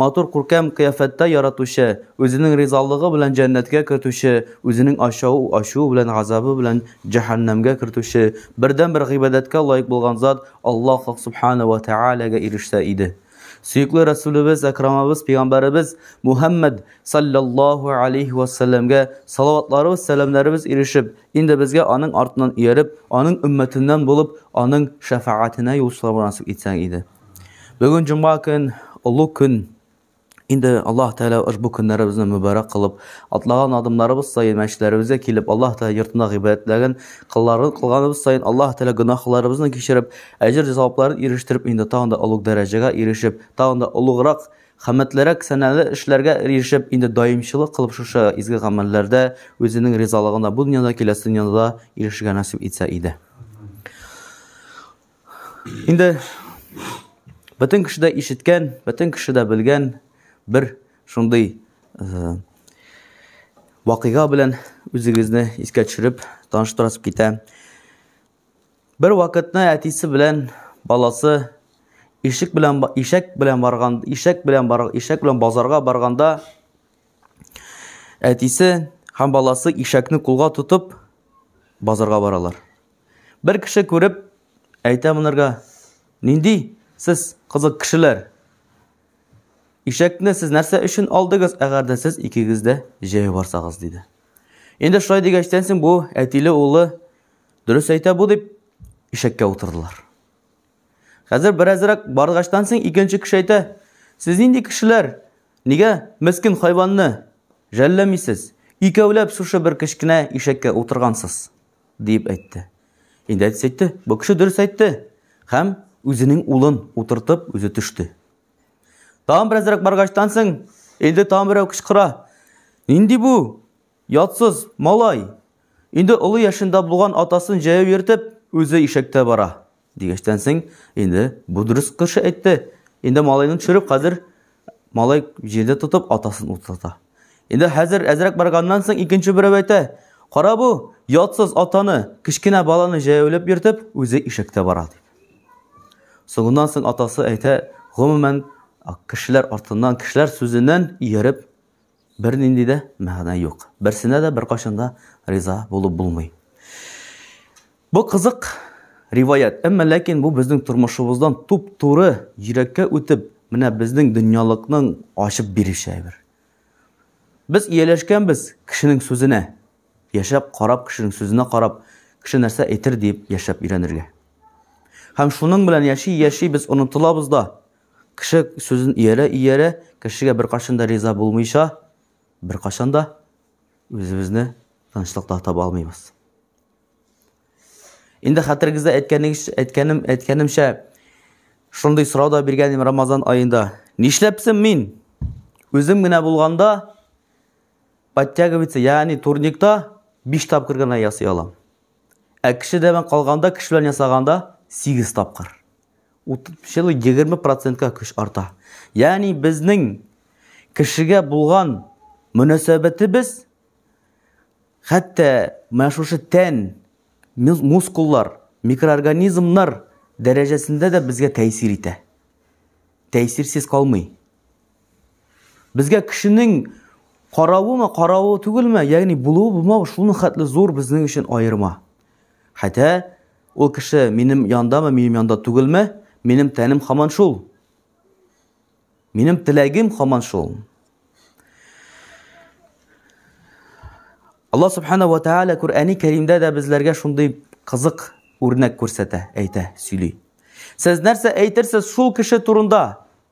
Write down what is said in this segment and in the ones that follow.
Матур күркәм кыяфәттә яратучы, үзенең ризалыгы белән җәннәткә кертүче, үзенең ачау, ачуы белән газабы белән җәһәннәмгә кертүче, бердәнбер гыйбадәткә лаек булган зат Аллаһ Хак Сүбхәнәһү вә Тәгаләгә ирешсә иде. Сөекле Рәсүлебез Әкрамыбыз Пәйгамбәребез Мухәммәд салләллаһу алейһи вә сәлләмгә салаватларыбыз, сәламнәребез ирешеп, инде безгә аның артыннан ияреп, аның өммәтеннән булып, аның шәфәгатенә юл сорарга насыйп итсә иде. Бүген җомга көн, олы көн. Инде Аллаһ Тәгалә ошбу көннәребезне мөбарәк кылып, атлаган адымнарыбыз саен мәчетләребезгә килеп, Аллаһ Тәгалә йортында гыйбадәтләрен кылларын кылганыбыз саен Аллаһ Тәгалә гөнаһларыбызны кичереп, әҗер-савапларын ирештереп, инде тагын да олуг дәрәҗәгә ирешеп, тагын да олуграк, хәммәтлерәк сәнәле эшләргә ирешеп, инде даимчылык кылып шушы изге гамәлләрдә үзенең ризалыгына бу дөньяда, киләсе дөньяда да ирешергә насыйп итсә иде. Инде бөтен кеше дә ишеткән, бөтен кеше дә белгән бер шундый э, вакыйга белән үзегезне искә төшереп таныштырасып китә. Бер вакытны әтисе белән баласы ишек белән ишәк белән барган, ишәк белән бар, ишәк белән базарга барганда әтисе һәм баласы ишәкне кулга тотып базарга баралар. Бер кеше күреп, әйтә монарга, Нинди сез кызык кешеләр? Ишәкне сез нәрсә өчен алдыгыз, әгәр дә сез икегез дә җәяү барсагыз, диде. Инде шулай дигәчтән соң бу әтиле улы дөрес әйтә бу дип ишәккә утырдылар. Хәзер беразрак баргачтан соң икенче кеше әйтә, Сез нинди кешеләр? Нигә мескен хайванны жәлләмисез? Икәүләп шушы бер кечкенә ишәккә утыргансыз. диеп әйтте. Инде әтисе әйтте, бу кеше дөрес әйтте. Һәм үзенең улын утыртып, үзе төште. Тагын беразрак баргачтан соң, инде тагын берәү кычкыра. Нинди бу? Ятсыз малай. Инде олы яшендә булган атасын җәяү йөртеп, үзе ишәктә бара. Дигәчтән соң, инде бу дөрес кеше әйтте. Инде малайны төшереп, хәзер малай җирдә тотып атасын утлата. Инде хәзер әзрәк барганнан соң икенче берәү әйтә, Кара бу, ятсыз атаны, кечкенә баланы җәяүләп йөртеп, үзе ишектә бара дип. Соңыннан соң атасы әйтә, гомумән, кешеләр артыннан, кешеләр сүзеннән ияреп, Бернинди дә мәгънә юк. Берсенә дә беркайчан да риза булып булмый. Бу кызык риваять, әмма ләкин бу безнең тормышыбыздан туп-туры йөрәккә үтеп, менә безнең дөньялыкның ачып биреше әйбер. Без ияләшкәнбез кешенең сүзенә. Яшәп, карап, кешенең сүзенә карап, кеше нәрсә әйтер дип яшәп өйрәнергә. Һәм шуның белән яши-яши без онытылабыз да, Кеше сүзен иярә-иярә, кешегә беркайчан да риза булмыйча, беркайчан да үзебезне тынычлыкта таба алмыйбыз. Инде хәтерегездә әйткәнем, әйткәнемчә, шундый сорау да биргәнем Рамазан аенда. Нишләпсем мин? Үзем генә булганда подтягиваться, ягъни турникта 5 тапкыр гына ясый алам. Ә кешедән калганда, кеше белән ясаганда 8 тапкыр. Утыручылы 20 процентка көч арта. Ягъни безнең кешегә булган мөнәсәбәтебез хәтта менә шушы тән, мускуллар, микроорганизмнар дәрәҗәсендә дә безгә тәэсир итә. Тәэсирсез калмый. Безгә кешенең каравымы, каравы түгелме, ягъни булуы булмау шуның хәтле зур безнең өчен аерма. Хәтта Ул кеше минем яндамы, минем янда түгелме, минем тәнем хаман шул. Минем теләгем хаман шул. Аллаһ субхана ва тааля Куръани Кәримдә дә безләргә шундый кызык үрнәк күрсәтә, әйтә, сөйли. Сез нәрсә әйтерсез шул кеше турында?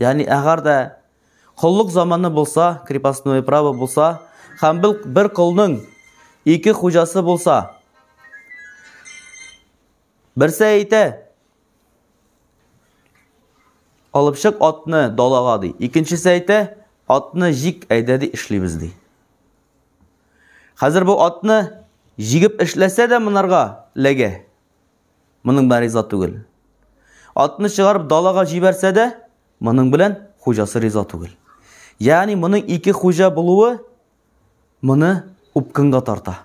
Яни әгәр дә коллык заманы булса, крепостное право булса, һәм бил бер колның ике хуҗасы булса. Берсе әйтә, алып чык атны далага ди. Икенчесе әйтә, атны җик әйдә ди эшлибез ди. Хәзер бу атны җигеп эшләсә дә монарга ләгә. Моның белән риза түгел. Атны чыгарып далага җибәрсә дә, моның белән хуҗасы риза түгел. Ягъни моның ике хуҗа булуы моны упкынга тарта.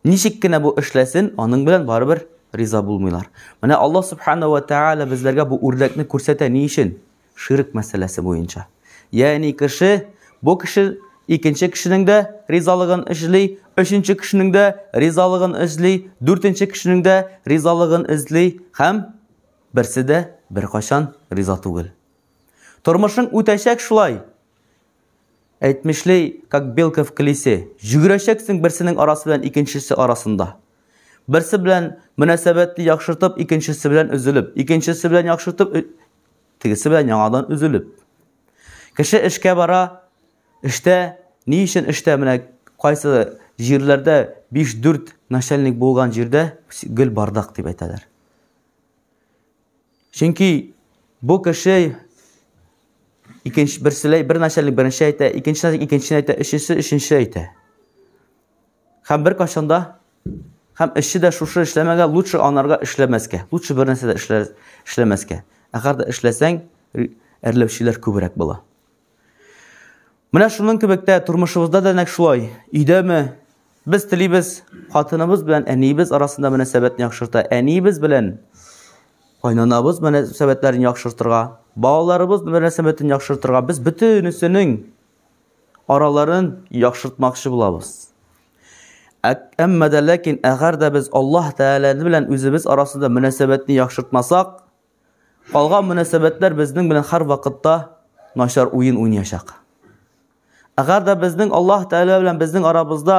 Ничек кенә бу эшләсен, аның белән барыбер риза булмыйлар. Менә Аллаһ субхана ва тааля безләргә бу үрдәкне күрсәтә ни өчен? Ширк мәсьәләсе буенча. Ягъни кеше, бу кеше икенче кешенең дә ризалыгын эзли, өченче кешенең дә ризалыгын эзли, дүртенче кешенең дә ризалыгын эзли һәм берсе дә беркайчан риза түгел. Тормышың үтәчәк шулай. Әйтмешли, как белка в колесе. Җөгерәчәксең берсенең арасы белән икенчесе арасында. Берсе белән мөнәсәбәтне яхшыртып, икенчесе белән өзелеп, икенчесе белән яхшыртып, Тегесе белән яңадан өзелеп. Кеше эшкә бара, эштә, ни өчен эштә, менә кайсы җирләрдә 5-4 начальник булган җирдә гел бардак дип әйтәләр. Чөнки бу кеше икенче берселәй бер начальник беренче әйтә, икенче начальник икенче әйтә, өчесе өченче әйтә. Хәм бер кашында хәм эшче дә шушы эшләмәгә лучше анарга эшләмәскә. Лучше бер нәрсә дә эшләмәскә. Әгәр дә эшләсәң, әрләүчеләр күбрәк була. Менә шуның кебек тә тормышыбызда да нәк шулай. Өйдәме без телибез, хатыныбыз белән әниебез арасында мөнәсәбәтне яхшырта, әниебез белән кайнанабыз мөнәсәбәтләрен яхшыртырга, балаларыбыз мөнәсәбәтен яхшыртырга без бөтенесенең араларын яхшыртмакчы булабыз. Әмма дә ләкин әгәр дә без Аллаһ Тәгалә белән үзебез арасында мөнәсәбәтне яхшыртмасак, калган мөнәсәбәтләр безнең белән һәр вакытта начар уен уйнаячак. Әгәр дә безнең Аллаһ Тәгалә белән безнең арабызда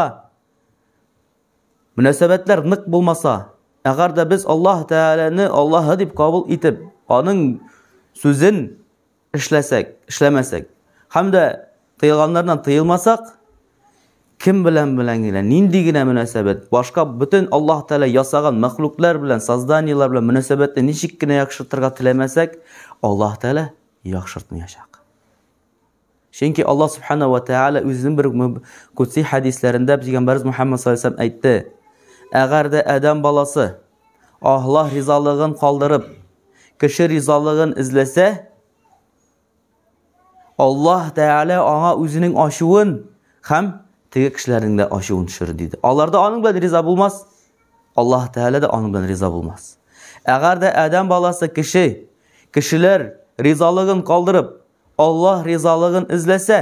мөнәсәбәтләр нык булмаса, әгәр дә без Аллаһ Тәгаләне Аллаһы дип кабул итеп, аның сүзен эшләсәк, эшләмәсәк, һәм дә тыелганнардан тыелмасак, кем белән белән генә, нинди генә мөнәсәбәт, башка бөтен Аллаһ Тәгалә ясаган мәхлуклар белән, созданиеләр белән мөнәсәбәтне ничек кенә яхшыртырга теләмәсәк, Аллаһ Тәгалә яхшыртмаячак. Чөнки Аллаһ Субхана ва Тәгалә үзенең бер кутси хәдисләрендә пәйгамбәрбез Мухаммад саллаллаху әйтте: "Әгәр дә Адам баласы Аллаһ ризалыгын калдырып, кеше ризалыгын эзләсә, Аллаһ Тәгалә аңа үзенең ачуын һәм теге кешеләрнең дә ачуын төшерер диде. Алар да аның белән риза булмас, Аллаһ Тәгалә дә аның белән риза булмас. Әгәр дә Адәм баласы кеше, кешеләр ризалыгын калдырып, Аллаһ ризалыгын эзләсә,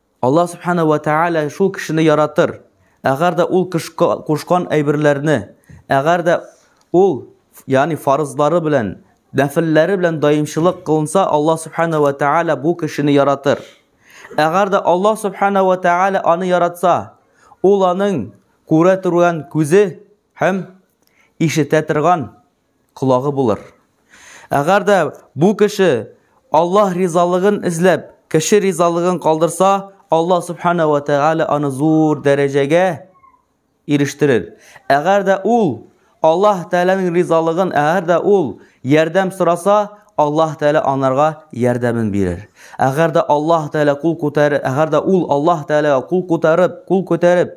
Аллаһ Субхана ва Тәгалә шул кешене яратыр, әгәр дә ул кушкан әйберләрне, әгәр дә ул, ягъни фарызлары белән, нәфелләре белән даимчылык кылынса, Аллаһ Субхана ва Тәгалә бу кешене яратыр. Әгәр дә Аллаһ Субхана ва Тәгалә аны яратса, ул аның күрә торган күзе һәм ишетә торган колагы булыр. Әгәр дә бу кеше Аллаһ ризалыгын эзләп, кеше ризалыгын калдырса, Аллаһ субхана ва тәгалә аны зур дәрәҗәгә ирештерер. Әгәр дә ул Аллаһ Тәгаләнең ризалыгын, әгәр дә ул ярдәм сораса, Аллаһ Тәгалә анарга ярдәмен бирер. Әгәр дә Аллаһ Тәгалә кул күтәрер, әгәр дә ул Аллаһ Тәгаләгә кул күтәреп, кул күтәреп,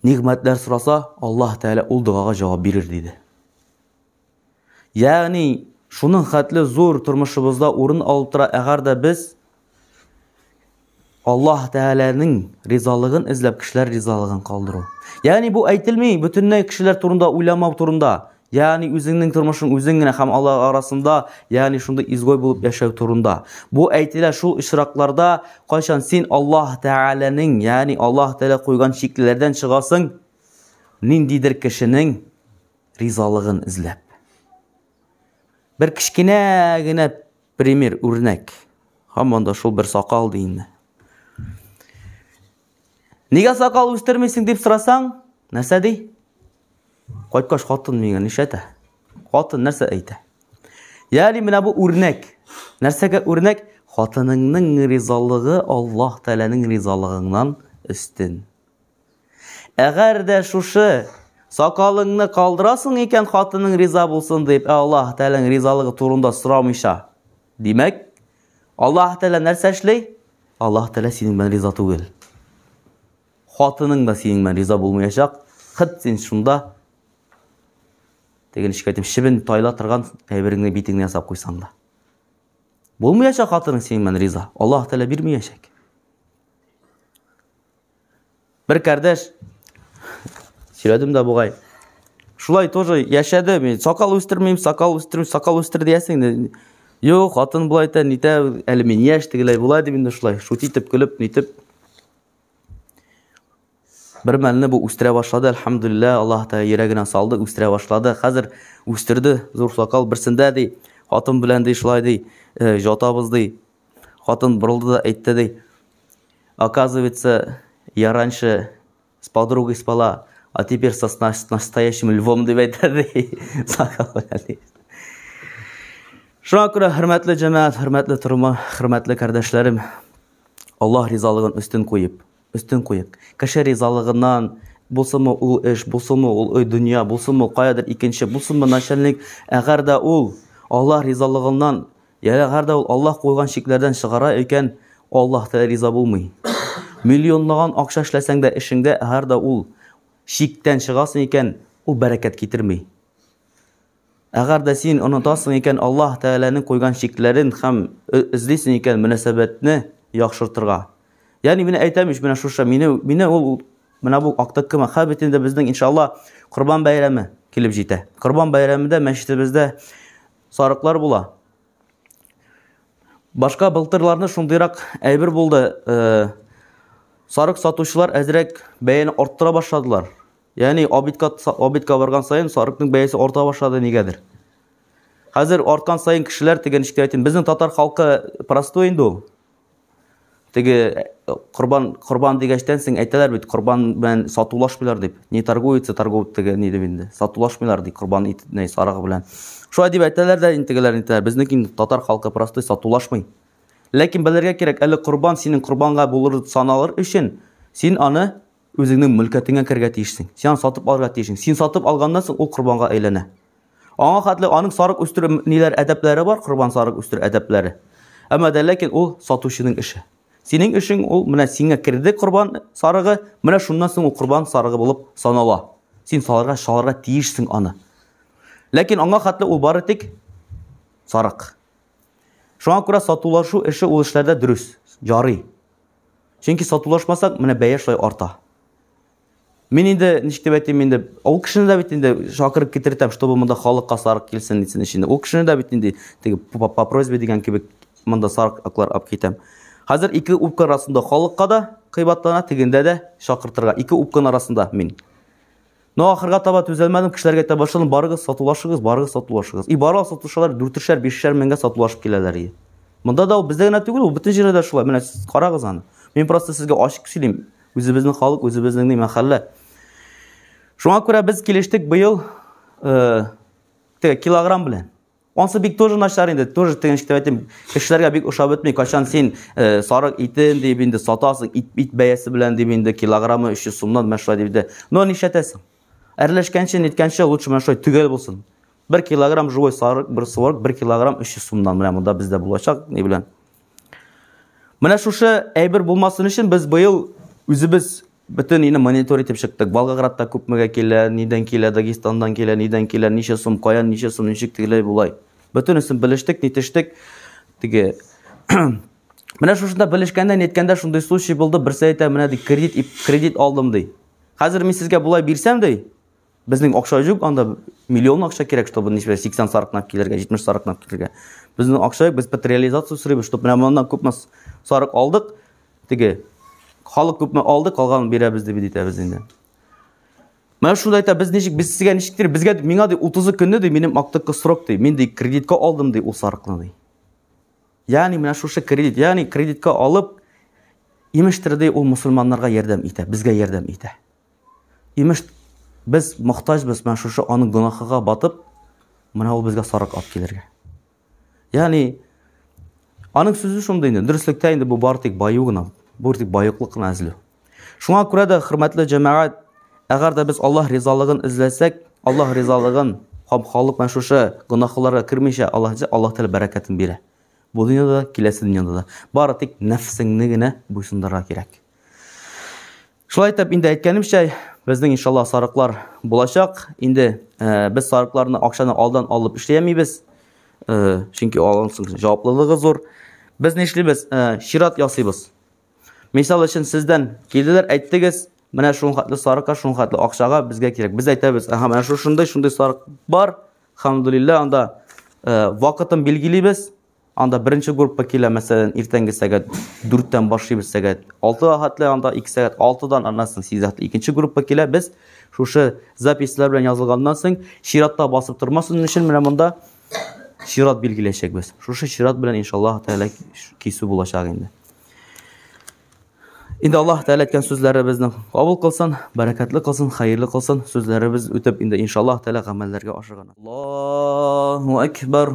нигъмәтләр сораса, Аллаһ Тәгалә ул догага җавап бирер диде. Ягъни, шуның хәтле зур тормышыбызда урын алып тора, әгәр дә без Аллаһ Тәгаләнең ризалыгын эзләп, кешеләр ризалыгын калдыру. Ягъни бу әйтелми бөтенләй кешеләр турында уйламау турында. Ягъни үзеңнең тормышың үзең генә һәм Аллаһ арасында, ягъни шундый изгой булып яшәү турында. Бу әйтелә шул очракларда, кайчан син Аллаһ Тәгаләнең, ягъни Аллаһ Тәгалә куйган чикләрдән чыгасың, ниндидер кешенең ризалыгын эзләп. Бер кечкенә генә пример, үрнәк. Һаман да шул бер сакал ди инде. Нигә сакал үстермисең дип сорасаң, нәрсә ди? Кайткач хатын миңа нишләтә? Хатын нәрсә әйтә? Яли менә бу үрнәк. Нәрсәгә үрнәк? Хатыныңның ризалыгы Аллаһ Тәгаләнең ризалыгыңнан өстен. Әгәр дә шушы сакалыңны калдырасың икән, хатының риза булсын дип, ә Аллаһ Тәгаләнең ризалыгы турында сорамыйча. Димәк, Аллаһ Тәгалә нәрсә эшли? Аллаһ Тәгалә синең белән риза түгел. Хатының да синең белән риза булмаячак. Хыт син шунда теге ничек әйтим, чебен тайла торган әйбереңне битеңне ясап куйсаң да. Булмаячак хатының синең белән риза. Аллаһ Тәгалә бирмәячәк. Бер кардәш сөйләдем дә бугай. Шулай тоже яшәде. Мин сакал үстермим, сакал үстермим, сакал үстер диясең. Юк, хатын булай әйтә, нитә, әле мин яшь тегеләй була дип инде шулай шут итеп көлеп, нитеп Бер мәлне бу үстерә башлады, әлхәмдулилла, Аллаһ Тәгалә йөрәгенә салды, үстерә башлады. Хәзер үстерде, зур сакал берсендә ди, хатын белән ди шулай ди, э, жатабыз ди. Хатын борылды да әйтте ди. Оказывается, я раньше с подругой спала, а теперь со настоящим львом дип әйтә ди. Сакал белән ди. Шуңа күрә хөрмәтле җәмәгать, хөрмәтле торма, хөрмәтле кардәшләрем, Аллаһ ризалыгын өстен куеп, өстен куеп, кеше ризалыгыннан булсымы ул эш, булсымы ул өй дөнья, булсымы каядыр икенче, булсымы начальник, әгәр дә ул Аллаһ ризалыгыннан, я әгәр дә ул Аллаһ куйган чикләрдән чыгара икән, Аллаһ та риза булмый. Миллионлаган акча эшләсәң дә эшеңдә, әгәр дә ул чиктән чыгасың икән, ул бәрәкәт китерми. Әгәр дә син онытасың икән Аллаһ Тәгаләнең куйган чикләрен һәм эзлисең икән мөнәсәбәтне яхшыртырга. Ягъни менә әйтәм ич, менә шушы мине мине ул менә бу актыккы мәхәббәт инде безнең иншалла Корбан бәйрәме килеп җитә. Корбан бәйрәмендә мәчетебездә сарыклар була. Башка былтырларны шундыйрак әйбер булды. Э, сарык сатучылар әзрәк бәяне арттыра башладылар. Яни обидка обидка барган саен сарыкның бәясе арта башлады нигәдер. Хәзер арткан саен кешеләр теге ничек әйтим, безнең татар халкы простой инде ул. Теге корбан корбан дигәчтән соң әйтәләр бит, корбан белән сатулашмыйлар дип. Не торгуется торговый теге ни дип инде. Сатулашмыйлар ди корбан итне сарыгы белән. Шулай дип әйтәләр дә интегеләр интеләр. Безнең татар халкы простой сатулашмый. Ләкин белергә кирәк, әле корбан синең корбанга булыр саналыр өчен син аны Үзеңнең мөлкәтеңә керергә тиешсең. Син аны сатып алырга тиешсең. Син сатып алганнан соң ул корбанга әйләнә. Аңа хәтле аның сарык үстерү ниләр әдәпләре бар, корбан сарык үстерү әдәпләре. Әмма дә ләкин ул сатучының эше. Синең эшең ул менә сиңа керде корбан сарыгы, менә шуннан соң ул корбан сарыгы булып санала. Син салырга, шалырга тиешсең аны. Ләкин аңа хәтле ул бары тик сарык. Шуңа күрә сатулашу эше ул эшләрдә дөрес, ярый. Чөнки сатулашмасак, менә бәя шулай арта. Мин инде ничек дип әйтим инде, ул кешене дә бит инде шакырып китертәм, чтобы монда халык касарык килсен дисен өчен. Ул кешене дә бит инде теге по просьбе дигән кебек монда сарык аклар алып китәм. Хәзер ике упка арасында халыкка да кыйбатлана, тегендә дә шакыртырга. Ике упканың арасында мин. Но ахырга таба түзәлмәдем, кешеләргә әйтә башладым, барыгыз сатулашыгыз, барыгыз сатулашыгыз. И баралар сатулашалар, дүртешәр, бишешәр меңгә сатулашып киләләр и. Монда да ул бездә генә түгел, ул бөтен җирдә дә шулай. Менә сез карагыз аны. Мин просто сезгә ачык сөйлим. Үзебезнең халык, үзебезнең ни мәхәллә. Шуңа күрә без килештек быел э, теге килограмм белән. Ансы бик тоже начар инде, тоже тегенч дип әйтим. Кешеләргә бик ошап бетми. Качан син э, сарык итен дип инде сатасың, ит, ит бәясе белән дип инде килограммы 300 сумнан менә шулай дип инде. Но нишләтәсең? Әрләшкәнче, ниткәнче лучше менә шулай төгәл булсын. 1 килограмм живой сарык, бер сарык 1 килограмм 300 сумнан менә монда бездә булачак, ни белән. Менә шушы әйбер булмасын өчен без быел үзебез Бөтен илне монитор итеп чыктык. Волгоградта күпмегә килә, нидән килә, Дагестандан килә, нидән килә, ничә сум, каян ничә сум, ничек тегеләй булай. Бөтенесен белештек, нитештек. Теге Менә шушында белешкәндә, ниткәндә шундый случай булды, берсе әйтә, менә ди, кредит, кредит алдым ди. Хәзер мин сезгә болай бирсәм ди, Безнең акча юк, анда миллион акча кирәк, чтобы ничә 80 сарыкнап килергә, 70 сарыкнап килергә. Безнең акча юк, без патериализация сорыйбыз, чтобы менә моннан күпме сарык алдык, теге халык күпме алды, калганын бирәбез дип әйтәбез инде. Менә шуны әйтә, без ничек, без сезгә ничектер, безгә миңа ди 30 көнне ди минем актыкы срок ди, мин ди кредитка алдым ди ул сарыкны ди. Ягъни менә шушы кредит, ягъни кредитка алып, имештер ди ул мусульманнарга ярдәм итә, безгә ярдәм итә. Имеш, без мохтаҗбыз менә шушы аның гөнаһыга батып, менә ул безгә сарык алып килергә. Ягъни аның сүзе шундый инде, дөреслектә инде бу бар тик баю гына, бу тик баюклык кына эзләү. Шуңа күрә дә хөрмәтле җәмәгать, әгәр дә без Аллаһ ризалыгын эзләсәк, Аллаһ ризалыгын һәм халык менә шушы гөнаһларга кермичә Аллаһ эзләсә, Аллаһ Тәгалә бәрәкәтен бирә. Бу дөньяда да, киләсе дөньяда да. Бары тик нәфсеңне генә буйсындырырга кирәк. Шулай итеп, инде әйткәнемчә, безнең иншалла сарыклар булачак. Инде э, без сарыкларны акчаны алдан алып эшләмибез. Э, чөнки алган соң җаваплылыгы зур. Без ни эшлибез? Э, чират ясыйбыз. Мисал өчен сездән килделәр, әйттегез, менә шул хәтле сарыкка, шул хәтле акчага безгә кирәк. Без әйтәбез, аха, менә шушындый, шундый сарык бар. Хамдулилла, анда вакытын билгелибез. Анда беренче группа килә, мәсәлән, иртәнге сәгать 4-тән башлыйбыз сәгать 6-га хәтле, анда 2 сәгать 6-дан аннан соң 8 хәтле икенче группа килә. Без шушы записьләр белән язылганнан соң чиратта басып тормасын өчен менә монда чират билгеләячәкбез. Шушы чират белән иншаллаһ тәгалә кисү булачак инде. Инде Аллаһ Тәгалә әйткән сүзләребезне кабул кылсын, бәрәкәтле кылсын, хәерле кылсын. Сүзләребез үтеп инде иншаллаһ Тәгалә гамәлләргә ашыгына. Аллаһу акбар.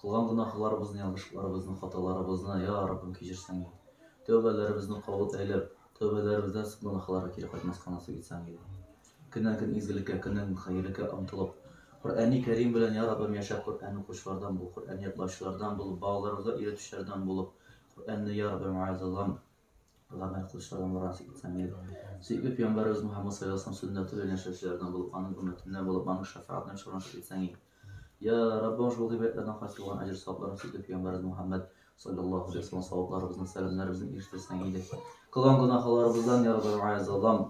Кылган гөнаһларыбызны, ялгышларыбызны, хаталарыбызны, йа Раббым, кичерсәң иде. Тәүбәләребезне кабул әйләп, тәүбәләребездән соң гөнаһларга кире кайтмаска насыйп итсәң иде. Көннән-көн изгелеккә, көннән-көн хәерлеккә омтылып, Коръәни Кәрим белән, йа Раббым, яшәп, Коръән укучылардан бул, Коръән ятлаучылардан бул, балаларыбызга өйрәтүчеләрдән булып, Коръәнне, йа Раббым, вәгазьләгән Пәйгамбәр кылычларын Мурат ибн Камил, сөекле пәйгамбәребез Мөхәммәд саллаллаһу сүннәте белән яшәүчеләрдән булып, аның өммәтеннән булып, аның шәфаатына чорына итсәң иң. Я Раббым, шул гыйбадәтләрдән кайтып булган әҗер савапларын сөекле пәйгамбәребез Мөхәммәд саллаллаһу алейһи вәсәлләм савапларыбызны, сәламнәребезне ирештерсәң иде. Кылган гөнаһларыбыздан, я Раббым,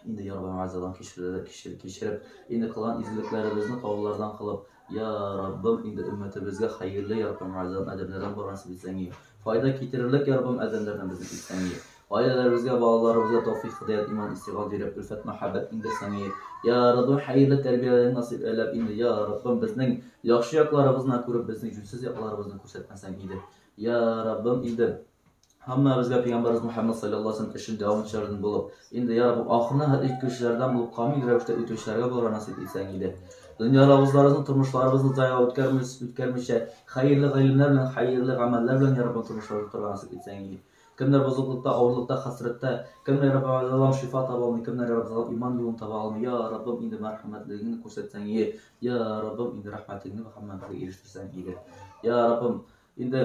Инде ярган газабын кичерде, кичер, кичереп, инде кылган изгелекләребезне каулардан кылып, я Раббым, инде өммәтебезгә хәерле ярган газабын адәмнәрдән баргансып исәңи. Файда китерерлек ярган адәмнәрдән безне исәңи. Гаиләләребезгә, балаларыбызга тәүфик, хидәят, иман, истигал биреп, өлфәт, мәхәббәт иңдерсәңи. Я Раббым, хәерле тәрбияләрен насыйп әйләп, инде я Раббым, безнең яхшы якларыбызны күреп, безнең җүнсез якларыбызны күрсәтмәсәң иде. Я Раббым, инде Һәммәбезгә Пәйгамбәрбез Мөхәммәд саллаллаһу алейһи ва өчен дәвамчылардан булып, инде я Раббым, ахырына хәтле җиткерүчеләрдән булып камил рәвештә үтүчеләргә булырга насыйп итсәң иде. Дөньяларыбызларыбызны, тормышларыбызны зая үткәрмис, үткәрмичә, хәерле гыйлемнәр белән, хәерле гамәлләр белән, я Раббым, тормышларны тотарга насыйп итсәң иде. Кемнәр бозыклыкта, авырлыкта, хәсрәттә, кемнәр, Раббым, аллам, шифа таба алмый, кемнәр, Раббым, залап иман юлын таба алмый, я Раббым, инде мәрхәмәтлегеңне күрсәтсәң иде, я Раббым, инде рәхмәтеңне һәммәбезгә ирештерсәң иде. Я Раббым, Инде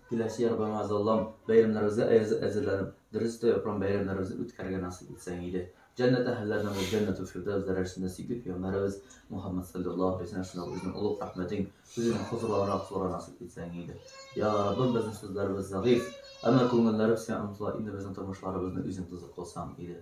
киләсе ел Гамаз Аллам бәйрәмнәребезгә әзерләнеп, дөрес тә япрам бәйрәмнәребезне үткәрергә насыйп итсәң иде. Җәннәт әһелләренә бу җәннәт фирдәвс дәрәҗәсендә сикеп пәйгамбәребез Мухаммад саллаллаһу алейһи ва сәлләм үзенең олуг рәхмәтең, үзенең хозурларына кылырга насыйп итсәң иде. Я Раббым, безнең сүзләребез зәгыйф, әмма күңелләребез сиңа омтыла, инде безнең тормышларыбызны үзең тозык кылсаң иде.